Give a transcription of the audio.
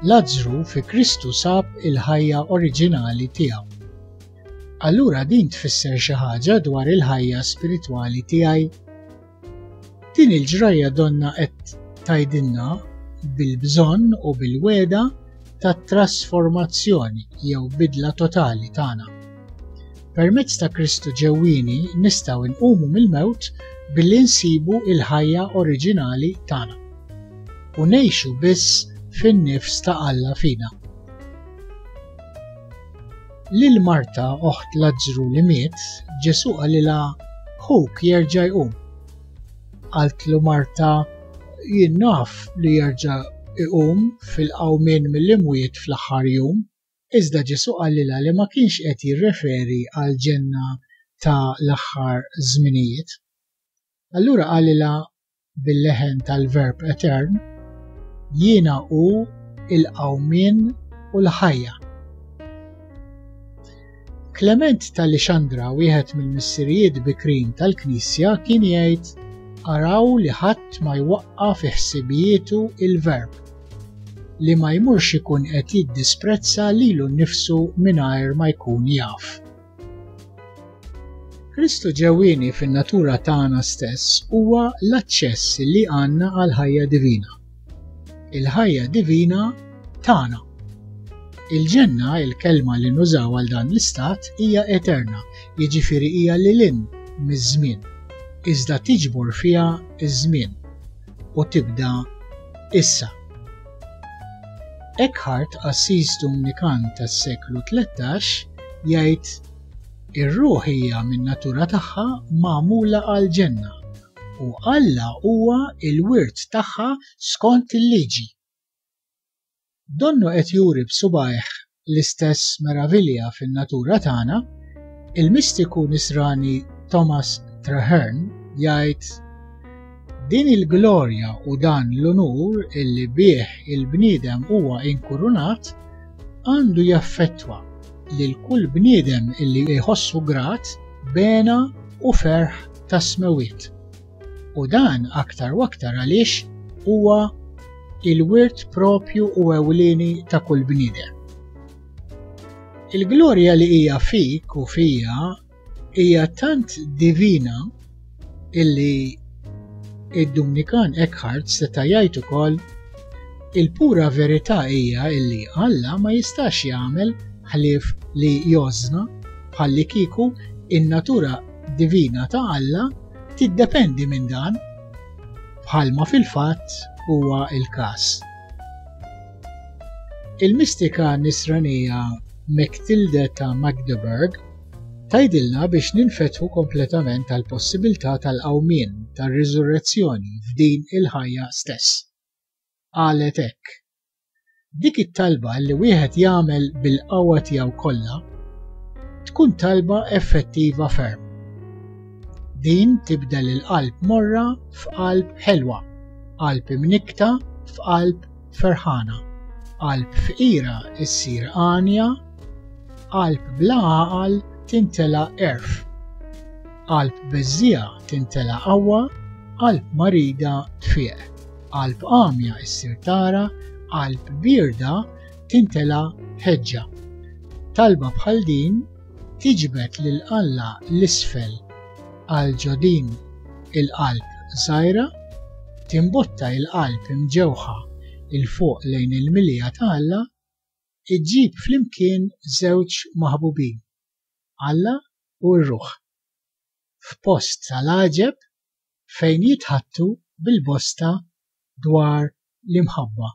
Lazzru fi Kristu sab il-ħajja oriġinali tiegħu. Allura din tfisser xi ħaġa dwar il-ħajja spiritwali tiegħi? Din il-ġrajja donna qed tgħidilna bil-bżonn u bil-wegħda tat-trasformazzjoni jew bidla totali tagħna. Permezz ta' Kristu ġewwieni nistgħu nqumu mill-mewt billi nsibu l-ħajja oriġinali tagħna u ngħixu biss fin-nifs ta' Alla fina. Lil Marta, oħt Lazzru li miet, Ġesù qalilha ħuk jerġa' jqum. Qaltlu Marta, jien naf li jerġa' iqum fil-qawmien mill-imwiet fl-aħħar jum, iżda Ġesù qalilha li ma kienx qed jirreferi għall-ġenna ta' l-aħħar żminijiet. Allura qalilha bil-leħen tal-verb etern, jiena u il-qawmien u l-ħajja. Klement tal-Ixandra, wieħed mill-missirijiet bikrin tal-Knisja, kien jgħid araw li ħadd ma jwaqqa fi ħsibietu il-verb li ma jmurx ikun qed jiddisprezza lilu nnifsu mingħajr ma jkun jaf. Kristu ġewwieni fin-natura tagħna stess huwa l-aċċess li għandna għal ħajja divina. Il-ħajja divina tagħna. Il-ġenna, il-kelma li nużaw għal dan l-istat, hija eterna, jiġifieri hija lil in miż-żmien, iżda tiġbor fiha ż żmien u tibda issa. Eckhart, qassis Dumnikan tas-seklu tlettax, jgħid, Ir-ruħ hija min-natura tagħha magħmula għall-ġenna, u Alla huwa l-wirt tagħha skont il-liġi. Donnu qed juri b'subgħajh l-istess meravilja fin-natura tagħna, il-mistiku Nisrani Thomas Traherne jgħid, Din il-glorja u dan l-unur li bih il-bniedem huwa inkurunat għandu jaffettwa lil kull bniedem li jħossu grat b'hena u ferħ tas-smewwiet. U dan aktar u aktar għaliex huwa il-wirt propju u ewlieni ta' kull bniedem. Il-glorja li hija fik u fija hija tant divina illi id-Dumnikan Eckhart seta' jgħid ukoll il-pura verità hija illi Alla ma jistax jagħmel ħlief li jożna bħalli kieku in-natura divina ta' Alla tiddependi minn dan, bħalma fil-fatt huwa il-każ. Il-mistika nisranija Mechtilde ta' Magdeburg tajdilna biex ninfetħu kompletament tal-possibilità tal-qawmien tar-riżurrezzjoni f'din il-ħajja stess. Qalet hekk. Dik it-talba li wieħed jagħmel bil-qawwa tiegħu kollha tkun talba effettiva ferm. Din tibdel il-qalb morra f'qalb ħelwa, qalb imnikkta f'qalb ferħana, qalb fqira ssir għanja, qalb bla għaqal tintela' għerf, qalb beżżiegħa tintela' qawwa, qalb marida tfieq. Qalb għamja ssir tara, qalb bierda tintela' ħeġġa. Talba bħal din tiġbed lil Alla 'l isfel għal ġo din il-qalb żgħira, timbotta il-qalb imġewħa 'l fuq lejn il-milja ta' Alla, iġġib flimkien żewġ maħbubin, Alla u r-ruħ. F'post tal-għaġeb, fejn jitħaddtu bil-bosta dwar l-imħabba.